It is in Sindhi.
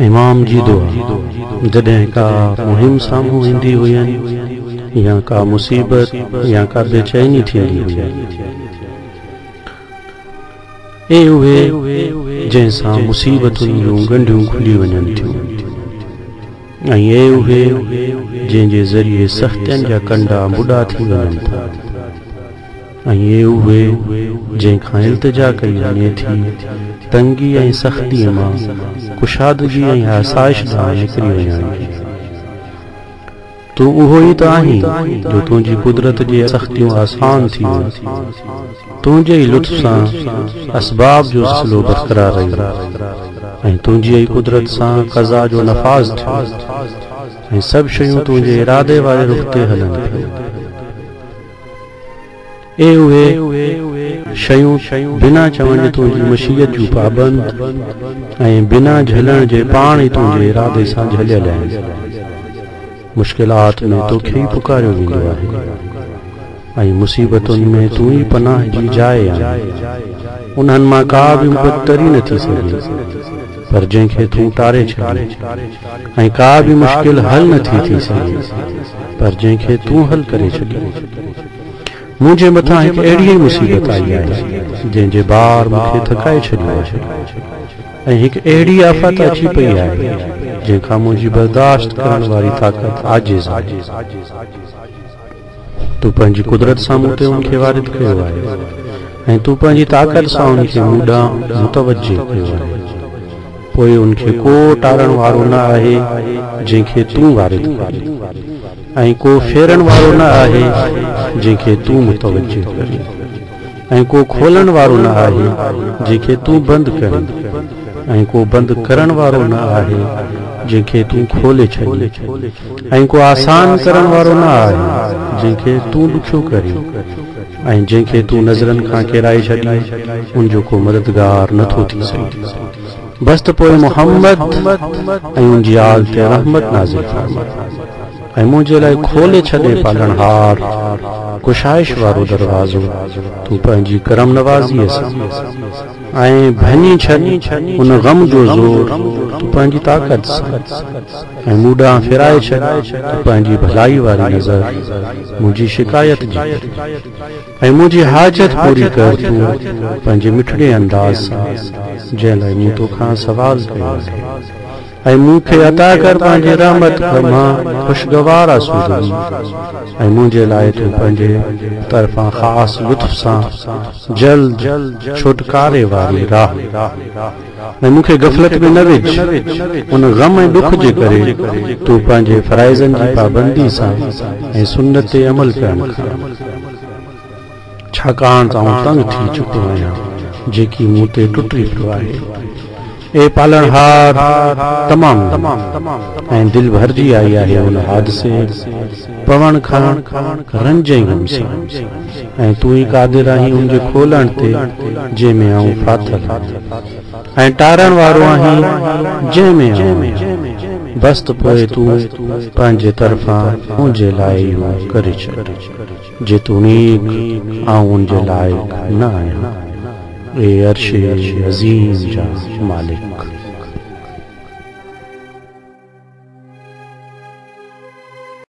امام جي دعا، جڏهن ڪا مهم سامهون ايندي هئين يا ڪا مصيبت يا ڪا بيچيني ٿيندي هئي. اي اهي جنهن سان مصيبتن جون ڳنڍيون کلي وڃن ٿيون ۽ اي اهي جنهن جي ذريعي سختين جا ڪنڊا مڏا ٿي وڃن ٿا. ۽ اهي اهي جنهن کان التجا ڪئي وڃي ٿي، تنگي ۽ سختيء مان ڪشادگي ۽ آسائش ڏانهن نڪري وڃڻ جي. تون اهو ئي ته آهين جو تنهنجي قدرت جي سختيون آسان ٿي ويون. تنهنجي ئي لطف سان اسباب جو سلسلو برقرار رهيو ۽ تنهنجيء ئي قدرت سان قضا جو نفاذ ٿيو ۽ سڀ شيون تنهنجي ارادي واري رخ تي هلن پيون. اي اهي شيون بنا چوڻ جي تنهنجي مشيت جون پابند ۽ بنا جهلڻ جي پاڻ ئي تنهنجي ارادي سان جهليل آهن. مشڪلات ۾ توکي ئي پڪاريو ويندو آهي ۽ مصيبتن ۾ تون ئي پناهه جي جاء آهين. انهن مان ڪا به مبتري نه ٿي سگهي. پر جنهن کي تون ٽاري ڇڏين ۽ ڪا به مشڪل حل نه ٿي ٿي سگهي پر جنهن کي تون حل ڪري ڇڏين. منهنجي مٿان هڪ اهڙي ئي مصيبت آئي آهي جنهن جي بار مون کي ٿڪائي ڇڏيو آهي ۽ هڪ اهڙي آفت اچي پئي آهي جنهن کان منهنجي برداشت ڪرڻ واري طاقت عاجز آهي. تون پنهنجي قدرت سان مون تي ان کي وارد ڪيو آهي ۽ تون پنهنجي طاقت سان ان کي مون ڏانهن متوجهه ڪيو آهي، پوء ان کي ڪو ٽارڻ وارو نه آهي جنهن کي تون وارد ڪرين ۽ ڪو ڦيرڻ وارو نه آهي جنهن کي تون متوجهه ڪرين. ۽ ڪو کولڻ وارو نه آهي جنهن کي تون بند ڪرين، ۽ ڪو بند ڪرڻ وارو نه آهي جنهن کي تون کولي ڇڏين، ۽ ڪو آسان ڪرڻ وارو نه آهي جنهن کي تون ڏکيو ڪرين، ۽ جنهن کي تون نظرن کان ڪيرائي ڇڏين ان جو ڪو مددگار نه ٿو ٿي سگهي. بس ته پوء محمد ۽ ان جي آل تي رحمت نازل فرماء. ۽ منهنجي لاء کولي ڇڏي پالڻهار، ڪشائش وارو دروازو، تون پنهنجي ڪرم نوازيء سان، ۽ ڀڃي ڇڏ ان غم جو زور، تون پنهنجي طاقت سان، ۽ مون ڏانهن ڦيرائي ڇڏ تون پنهنجي ڀلائي واري نظر، منهنجي شڪايت جي ڪري، ۽ منهنجي حاجت پوري ڪر تون پنهنجي مٺڙي انداز سان، جنهن لاء مون توکان سوال ڪيو آهي. ۽ مون کي عطا ڪر پنهنجي رحمت مان خوشگوار آسودگي ۽ منهنجي لاء تون پنهنجي طرفان خاص لطف سان جلد ڇوٽڪاري واري راهه ۽ مون کي غفلت ۾ نه وجهه ان غم ۽ ڏک جي ڪري تون پنهنجي فرائضن جي پابندي سان ۽ سنت تي عمل ڪرڻ کان ڇاڪاڻ ته آئون تنگ ٿي چڪو آهيان جيڪي مون تي ٽٽي پيو آهي. اي پالڻهار! تمام گهڻي ۽ دل ڀرجي آئي آهي ان حادثي، پوڻ، کان رنج ۽ غم سان ۽ تون ئي قادر آهين ان جي کولڻ تي جنهن ۾ آئون ڦاٿل آهيان ۽ ٽارڻ وارو آهين جنهن ۾ آئون آهيان. بس ته پوء تون پنهنجي طرفان منهنجي لاء اهو ڪري ڇڏ. جيتوڻيڪ آئون ان جي لائق نه آهيان، اي عرش عظيم جا مالڪ!